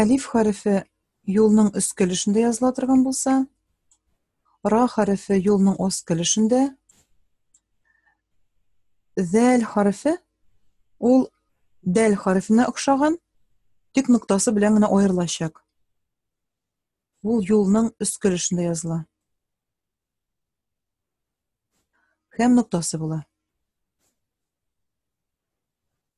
Әлиф хәрефе юлның өс көлешендә языла торган булса, ра хәрефе юлның ос көлешендә, зәл хәрефе ул дәл хәрефенә охшаган, тик ноктасы белән генә аерылачак. Ул юлның өс көлешендә языла. Һәм ноктасы була.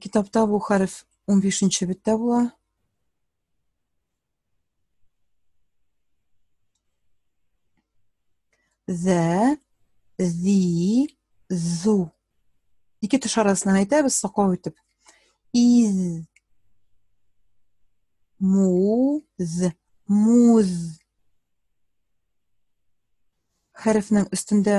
Китапта бу хәреф 15 нче беттә була. Зә, зи, зу. Ике теш арасына әйтәбез саклау итеп. Из, муз, муз. Хәрефнең өстендә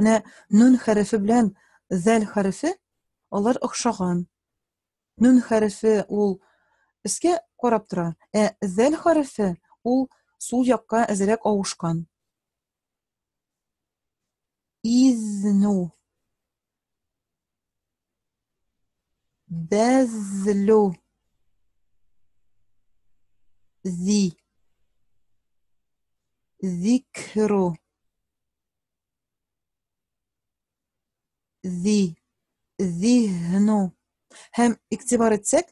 Менә нун хәрефе белән зәл хәрефе алар охшаган. Нун хәрефе ул өскә карап тора, ә зәл хәрефе ул сул якка әзерәк авышкан. Изну. Бәзлу. Зи. Зикру. зи, зиһну. Һәм игътибар итсәк,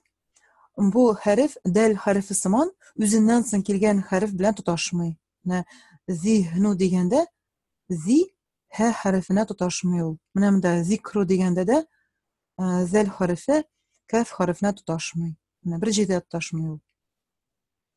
бу хәреф дәл хәрефе сыман үзеннән соң килгән хәреф белән тоташмый. Менә зиһну дигәндә зи һә хәрефенә тоташмый ул. Менә монда зикру дигәндә дә э, зәл хәрефе каф хәрефенә тоташмый. Менә бер җирдә тоташмый ул.